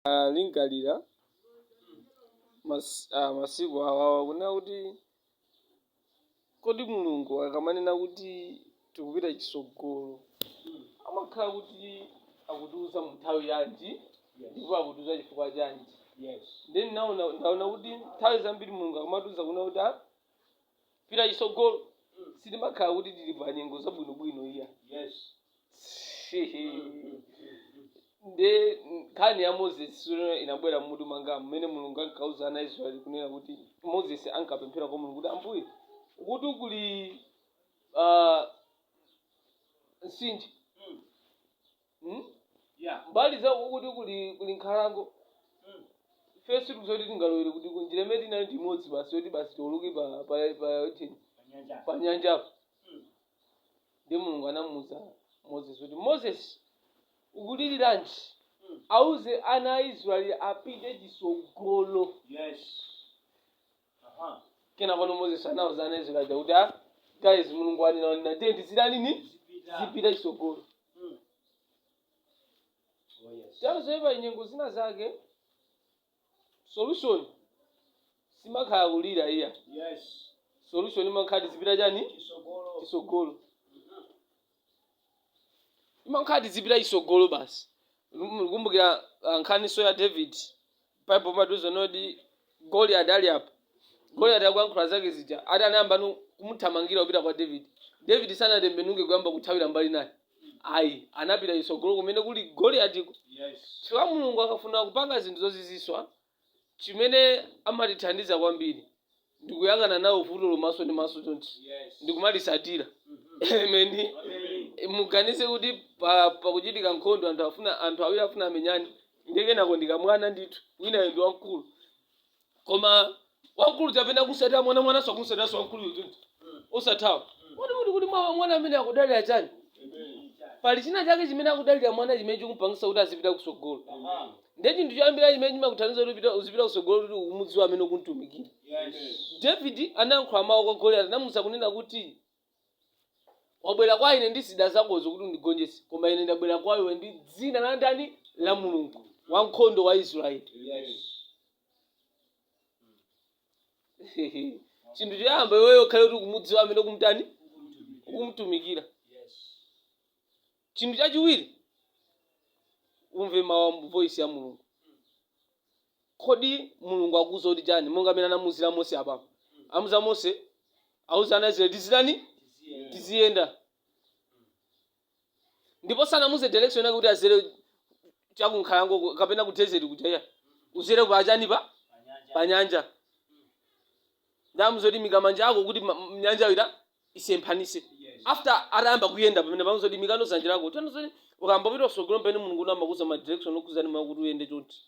Ah, lingalira mas, ah, masiku awawa kunena kuti kodi mulungu akamanena kuti tikupita chisogolo amakhala kuti akutiuza mu nthawi yanji ndipo akutiuza chifukwa chanji Yes. then ndaona ndaona kuti nthawi zambiri mulungu akamatiuza kunena kuti ah, pita chisogolo sitimakhala kuti tili pa nyengo zabwinobwino iya Yes. nde nkhani ya moses sura inabwera mmutu mwanga mmene mulungu ankauza ana israeli kunena kuti moses ankapemphera kwa mulungu kuti ambuye uku kuli ah, mtsinje Hmm? Yeah. mbali za uku kuli kuli nkhalango Mm. ife sitikudziwa kuti tingalowere kuti njira imene tinayo ndi imodzi basi yoti basi tiwoloke pa pa pa ujeni, Panyanja. pa nyanjapo Mm. nde mulungu anamuuza moses kuti moses ukuliriranji Mm. auze ana a israeli apite chisogolo Yes. kena pano moses anauza anzake aja kuti a guys mulungu wanena wanena ndiye tizitani tizipita chisogolo ndiye pa nyengo zina zake solution simakhala kulira iya solution imakhala tizipita chani chisogolo imakhala tizipita chisogolo basi ndikumbukira ah, nkhaniso ya david bible imatiuza kuti goliati ali apo goliati akuyankhula zake zija ati anayamba nu- kumuthamangira kupita kwa david david sanatembenuke kuyamba kuthawira mbali naye ayi anapita chisogolo kumene kuli goliatiko Yes. chifukwa mulungu akafuna kupanga zinthu zozizwitsa Chimene amatithandiza kwambiri ndi kuyang'ana nawo vutolo maso ndi maso chonchi ndi kumalitsatira. Amen. Muganize kuti pa pakuchitika nkhondo anthu afuna anthu awiri afuna amenyane ndiye kenako ndi kamwana ndithu winayo ndi wamkulu koma wamkulu tayamba kumsatira mwana mwananso akumsatiranso wamkuluyo chonchi osathawa uziti kodi kodi mwa- mwana ameneyu akudalira chani pali china chake chimene akudalira mwana chimene chikumpangisa kuti azipita kusogolo ndiye chinthu choyambira chimene chimakuthandiza kuti upita- uzipita kutsogolo ndi kuti ukumudziwa amene ukumtumikira david anayankhula mawu kwa goliyati anamuuza kunena kuti wabwera kwa ine ndi zida zakozo kuti undigonjetse koma ine ndabwera kwa iwe ndi dzina la ndani la mulungu wankhondo wa israeli chinthu choyamba iweyo ukhale kuti ukumudziwa amene ukumtani ukumtumikira Chinthu chachiwiri, umve mawu a voice ya Mulungu. Kodi Mulungu akuuza kuti chani? Monga amene anamuuzira Mose apa. Amuuza Mose, auza ana Israeli tizitani? Tiziyenda. Ndipo sanamuuze direction yake kuti adzere chakunkhalango ku- kapena ku desert kuja iyayi. Udzere pa chani pa? Pa nyanja. Nde amuuza kuti imika manja ako kuti ma- m- nyanja ita isemphanise after atayamba kuyenda pamene pamuuza kuti imikano dzanja lako tano zoti ukamapita kutsogolo pamene mulungu amakuuza ma direction okuuza ndi mawu kuti uyende chonchi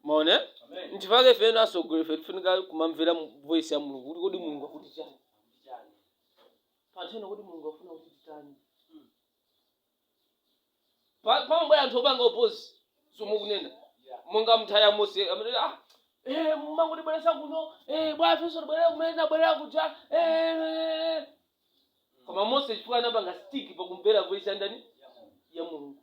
maone nchifukwa ife ngati atsogoleri ife tifunika kumamvera mu- voice ya mulungu kuti kodi mulungu akuti chani panthawi kuti mulungu afuna kuti titani Pa- pamabwera anthu opanga opozi zomakunena monga nthawi ya mose amene ah, eh, mwangotibweretsa kuno eh, bwa ifenso tibwerera kumene tinabwerera kuja eh, eh, eh." koma mose chifukwa anapanga stick pakumvera voice ya ndani ya mulungu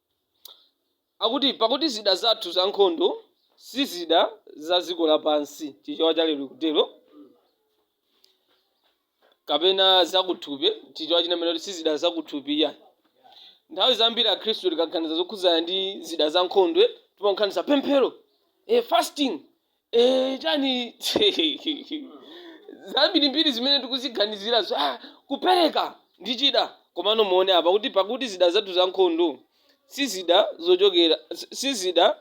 Akuti, Pakuti zida zathu za nkhondo si zida za dziko lapansi, Chichewa cha Lero ikutero, kapena zakuthupi, Chichewa china chimanena kuti si zida zakuthupi iyayi. Nthawi zambiri Akhristu tikaganiza zokhudzana ndi zida za nkhondo, timaganiza pemphero, eh, fasting, Eh, chani zambirimbiri zimene tikuziganizirazo ah, kupereka ndi chida komano muone apa kuti pakuti zida zathu za nkhondo si zida zochokera si- si zida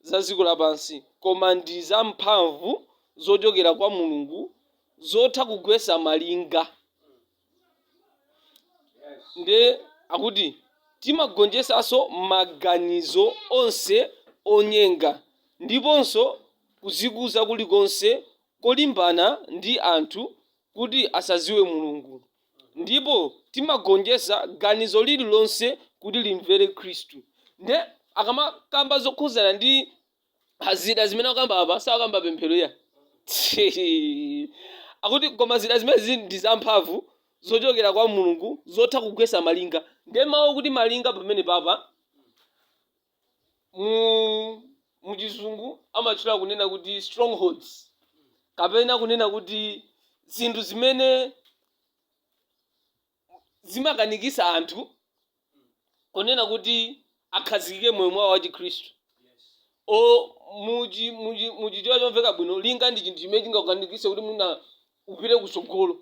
za dziko lapansi koma ndi za mphamvu zochokera kwa mulungu zotha kugwetsa malinga nde akuti timagonjetsanso maganizo onse onyenga ndiponso kudzikuza kulikonse kolimbana ndi anthu kuti asadziwe Mulungu, ndipo timagonjetsa ganizo lililonse kuti limvere Khristu. Nde akamakamba zokhudzana ndi Ah, zida zimene akukamba apa sakukamba pemphero iyayi akuti koma zida zimene zili ndi zamphamvu zochokera kwa mulungu zotha kugwetsa malinga ndiye mawu akuti malinga pamenepapa mu muchizungu amatchula kunena kuti strongholds kapena kunena kuti zinthu zimene zimakanikisa anthu kunena kuti akhazikike mmoyo mwawo wa chikhristu o muchi muchi muchichewa chomveka bwino linga ndi chinthu chimene chingakukanikise kuti mwina upite kutsogolo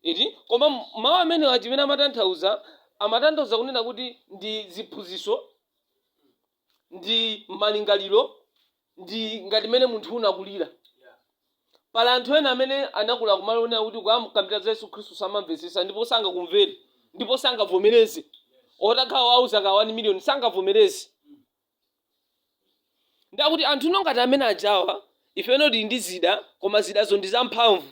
iti koma m- mawu amenewa chimene amatanthauza amatanthauza kunena kuti ndi ziphunzitso ndi malingaliro ndi ngati mmene munthu unakulira pali anthu ena amene anakula kumalo onena kuti ukamkambira za yesu khristu samamvetsetsa ndipo sangakumvere ndipo sangavomereze otakhala wauza ka 1 miliyoni sangavomereze ndiye akuti anthu no ngati amene ajawa ifeyo tili ndi zida koma zidazo ndi zamphamvu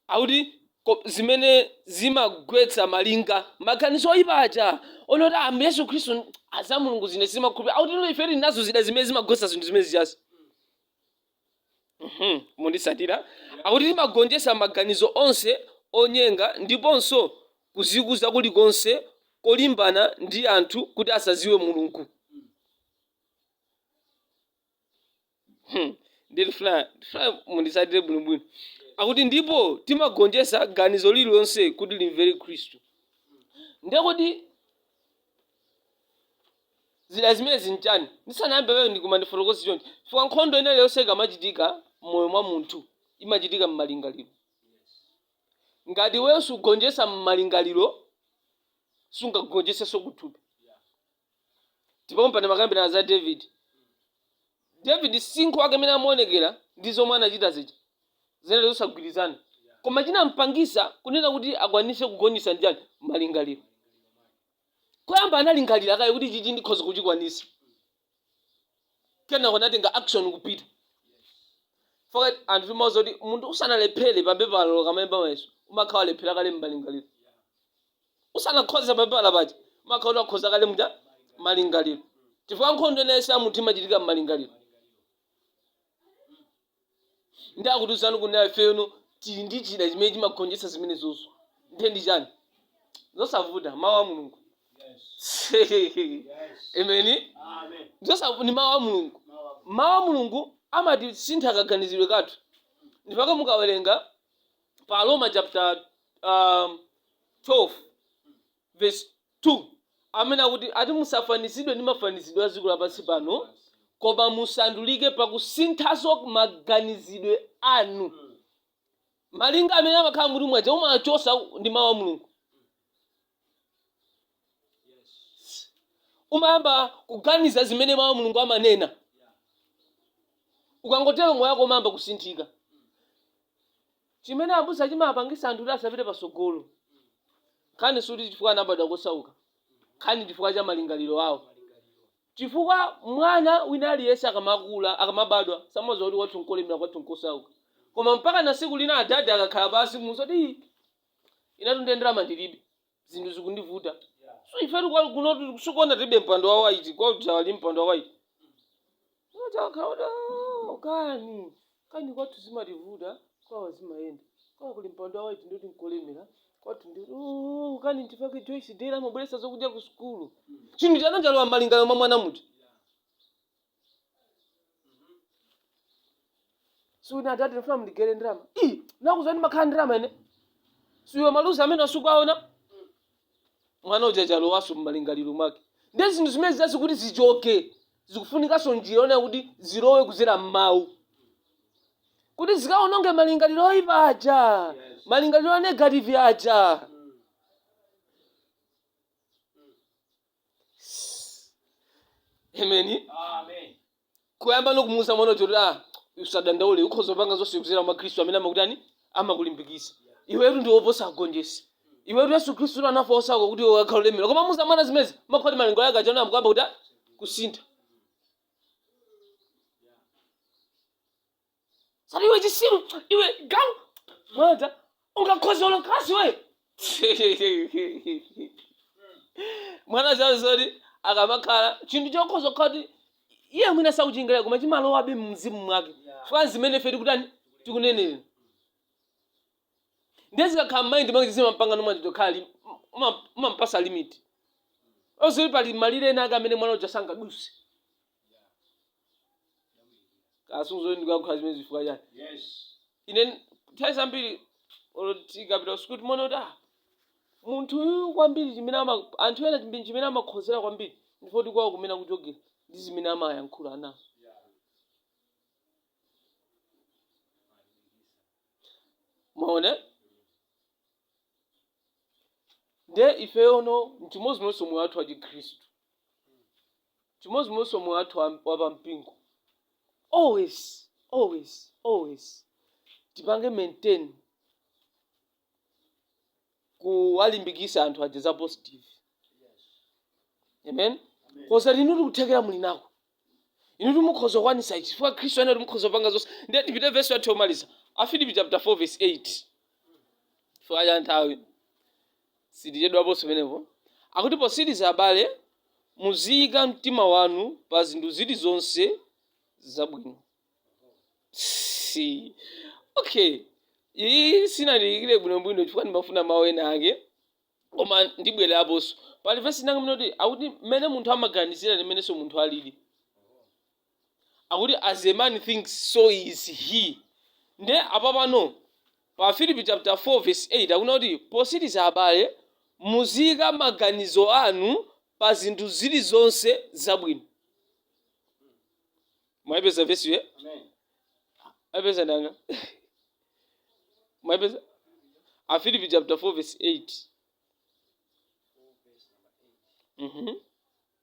akuti ko- zimene zimagwetsa malinga maganizo oyipa aja onena kuti ambuye yesu khristu za mulungu zimene zimakhulupira akuti no ife tili nazo zida zimene zimagwetsa zinthu zimene zijazi Mhm, munditsatire akuti timagonjetsa maganizo onse onyenga ndiponso kuzikuza kulikonse kolimbana ndi anthu kuti asadziwe mulungu Hmm. Ndiye ndifuna ndifuna munditsatire bwinobwino. Akuti ndipo timagonjetsa ganizo lililonse kuti limvere Khristu. Ndiye kodi zida zimenezi nchani? Ndisanayambe lero ndikumafotokoza chonchi. Chifukwa nkhondo ina iliyonse ikamachitika m'moyo mwa munthu imachitika m'malingaliro. Ngati wewe sugonjetsa m'malingaliro sungagonjetsenso kuthupi. Ndipo pompano timakambirana za David. David msinkhu wake mmene amaonekera ndi zomwe anachita zija zinali zosagwirizana. Koma chinampangisa kunena kuti akwanise kugonjesa ndichani malingaliro. Koyamba analingalira kaye kuti ichichi ndikhoza kuchikwanisa. kenako natenga action kupita chifukwa anthu timauza kuti munthu usanalephere pa pepala pokalemba mayeso umakhala walephera kale m'malingaliro usanakhoze pa pepala paja umakhala kuti wakhoza kale muja m'malingaliro chifukwa nkhondo ina iliyonse imachitika m'malingaliro Ndiye akutiuzano kuti nafe ifeyo tili ndi chida chimene chimagonjetsa zimenezozo. Ndiye ndi chani? Zosavuta, mawu a Mulungu. Ameni. Zosavuta ndi mawu a Mulungu. Mawu a Mulungu amatisintha kaganizidwe kathu. Ndipake mukawerenga pa Aroma chapter um, 12 vesi 2 Amene akuti ati musafanizidwe ndi mafanizidwe a dziko lapansi pano, koma musandulike pakusinthanso maganizidwe anu. Malinga amene amakhala mutu mwaja umawachosa ndi mawu a Mulungu. Umayamba kuganiza zimene mawu a Mulungu amanena. Ukangotero moyo wako umayamba kusinthika. chimene abusa chimapangisa anthu kuti asapite pasogolo nkhani suti chifukwa anabadwa kosauka nkhani chifukwa cha malingaliro awo chifukwa mwana wina aliyense akamakula akamabadwa samadziwa kuti kwathu nkolemera kwathu nkosauka koma mpaka na siku lina adadi akakhala pasi kumuuza kuti "Ii, inetu ine ndalama ndilibe zinthu zikundivuta so ifetu kwa kunotu sukuona tilibe mpando wa waiti kwa ujeni kuli mpando wa waiti chokhacho kani kani kwathu zimativuta kwawo zimayenda kwawo kuli mpando wa waiti ndiye kuti nkolemera kwathu ndi "Oh, kani nchifukwa chake joyce dera amabweretsa zokudya ku sukulu chinthu chinachija chalowa mmalingaliro mwa mwana muti suwina adadi ndifuna mundigaire ndalama inakuuza ndimakhala ndalama ine si awa maluzi amenewa sukuwaona mwana uja chalowanso mmalingaliro mwake ndi zinthu zimenezizi kuti zichoke zikufunikanso njira yonena kuti zilowe kudzera mmawu kuti zikaononge malingaliro oyipa aja Yes. malingaliro a negative aja amen kuyamba nokumuuza mwana uja kuti ah usadandaule ukhoza kupanga zonse kudzera mwa khristu amene amakutani amakulimbikitsa iwetu ndi woposa agonjetsi iwetu yesu khristu tu anafa wosauka kuti iwe ukhale olemera kumamuuza mwana zimenezi mumakhala kuti malingaliro ake aja tsopano akuyamba kutani kusintha osati iwe chitsiru iwe galu mata ungakhoza olo kalasi iwe mwana ali ndi zoti akamakhala chinthu chokhoza kukhala kuti iye mwina sakuchiganizira koma chimalowabe mumzimu mwake chifukwa zimene ife tikutani tikunenera ndiye zikakhala mmaindi mwake zimampanga no mwina titi kukhala ngati kumampatsa limit yoti pali malire ena ake amene mwana uja sangadutse chitsanzo ndikulankhula zimenezi chifukwa chani ine nthawi zambiri olo tikapita kusukulu timaona kuti ah, munthu uyu kwambiri chimene ama- anthu ena chimene chimene amakhozera kwambiri ndi choti kwawo kumene akuchokera ndi zimene amayankhula anawo mwaona nde ifeyo no nchimodzimodzinso moyo wathu wachikhristu Chimodzimodzinso moyo wathu wa, wa pa mpingo. Always, always, always tipange maintain kuwalimbikitsa anthu aja za positive. Amen. Poti inutu kuthekera muli nako. Inutu mukhoza kukwanisa ichi. Chifukwa Khristu anati mukhoza kupanga zonse. Ndiye tipite verse yathu yomaliza. Afilipi chapter 4 verse 8. Chifukwa cha nthawi. Sitichedwaponso penepo. Akuti potsiriza abale muziyika mtima wanu pa zinthu zili zonse zabwino. Psyii! Okay. Iyi sinandiyikire bwinobwino chifukwa ndimafuna mawu ena ake. Koma ndibweraponso. Pali vesi inayake imene ikuti akuti mmene munthu amaganizira ndi mmenenso munthu alili. akuti as a man thinks so is he nde apapano pa Afilipi chapter 4 verse 8 akunena kuti potsiriza abale muziyika maganizo anu pa zinthu zili zonse zabwino mwayipeza vesiyo ayipeza nanga mwayipeza Afilipi chapter 4 verse 8 mhm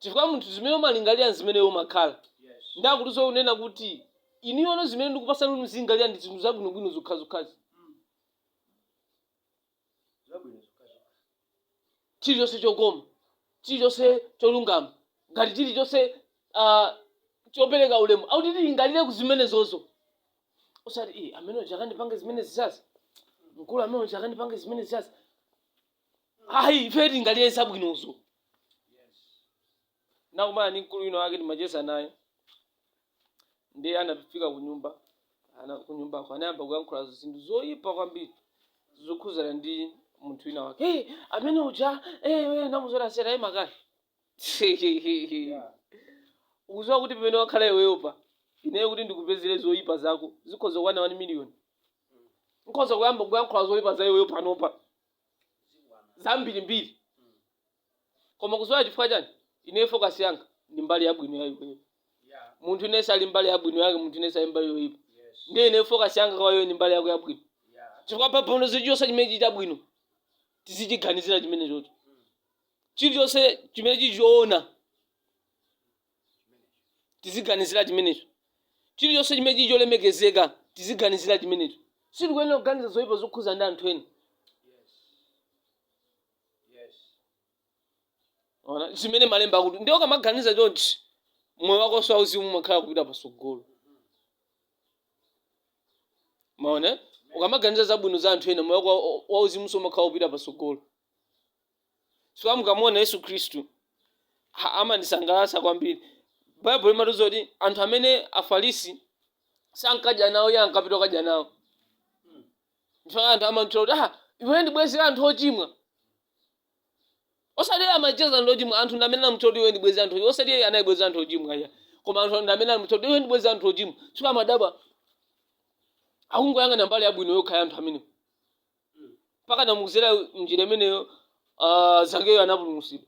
chifukwa munthu zimene umalingalira nzimene iwe umakhala ndi akutinso kunena kuti ineyono zimene ndikupasani kuti muzilingalira ndi zinthu zabwinobwino zokhazokhazi zabwino zokhazokha chilichonse chokoma chilichonse cholungama ngati chilichonse ah, chopereka ulemu akuti tilingalire ku zimenezozo osati iye amene uja akandipanga zimene zija mkulu amene uja akandipange zimene zizazi ayi ife tilingalire zabwinozo nakumana ndi mkulu wina wake timacheza naye ndi anafika kunyumba ana kunyumbako anayamba kuyankhula zinthu zoyipa kwambiri zokhuzana ndi munthu wina wake hey, amene uja hey, namuzorasera ye man kaya ukuziwa kuti pamene wakhala iweyo pa ineyo kuti ndikupezere zoyipa zako zikhoza kukwana 1 miliyoni nkhoza kuyamba kuyankhula zoyipa za iweyo panopa zambirimbiri koma ukuziwa chifukwa chani ine focus yanga ndi mbali yabwino ya iweyo munthu aliyense ali ndi mbali yabwino yake munthu aliyense ali ndi mbali yoyipa ndiye ine focus yanga kwa iwe ndi mbali yako yabwino chifukwa baibulo lati chilichonse chimene chili chabwino tizichiganizira chimenecho chilichonse chimene chili choona tiziganizira chimenecho chilichonse chimene chili cholemekezeka tiziganizira chimenecho sitikuyenera kuganiza zoyipa zokhuzana ndi anthu ena Ona, zimene malemba akuti ndiye ukamaganiza chonchi moyo wakonso wauzimu umakhala kupita pasogolo mwaona ukamaganiza zabwino za anthu ena moyo wako wa- wauzimunso umakhala kupita pasogolo chifukwa mukamuona yesu khristu ha, amandisangalatsa kwambiri baibulo limatiuza kuti anthu amene afarisi sankadya nawo iye ankapita kukadya nawo ndipo anthu amamtchula kuti ah iwe ndi bwezi la anthu ochimwa osati iye amacheza anthu ochimwa anthu ndi amene anamutchula kuti iwe ndi bwezi la anthu ochimwa osati iye anali bwezi la anthu ochimwa iya koma anthu ndi amene anamutchula kuti iwe ndi bwezi la anthu ochimwa chifukwa amadabwa akungoyang'ana mbali yabwino yokha ya anthu amenewo mpakana mukuzera mnjira imeneyo ah, zakeyo anapulumutsidwa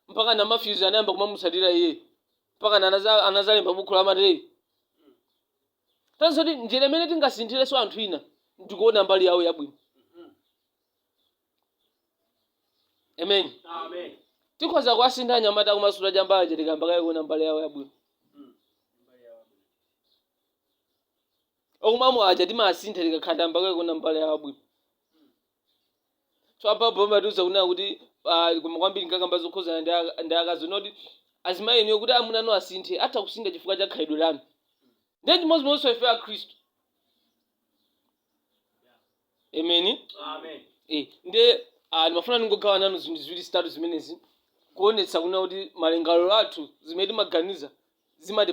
mpakana mafyuzi anayamba kumamutsatira iye mpakana anaza- anazalemba bukhu la mateyu tanso kuti njira imene tingasinthireso anthu ina ndikuona mbali yawo yabwino amen Amen. tikhoza kuwasintha anyamata kumasula chambayo tikayamba kaye kuona mbali yawo yabwino okumamo aja timawasintha tikakhala tayamba kaye kuona mbali yawo yabwino so apapo amatiuza kunena kuti ah, koma kwambiri ankakamba zokhuzana ndi aka- ndi akazi kuti azimayi inuyo kuti amuna anu asinthe atha kusintha chifukwa cha khalidwe lanu ndiye chimodzimodzinso ife akhristu emeni Amen. Eh, ndiye ah, ndimafuna ndingogawa nanu zinthu ziwiri zitatu zimenezi kuonetsa kunena kuti malingaliro athu zimene timaganiza zimati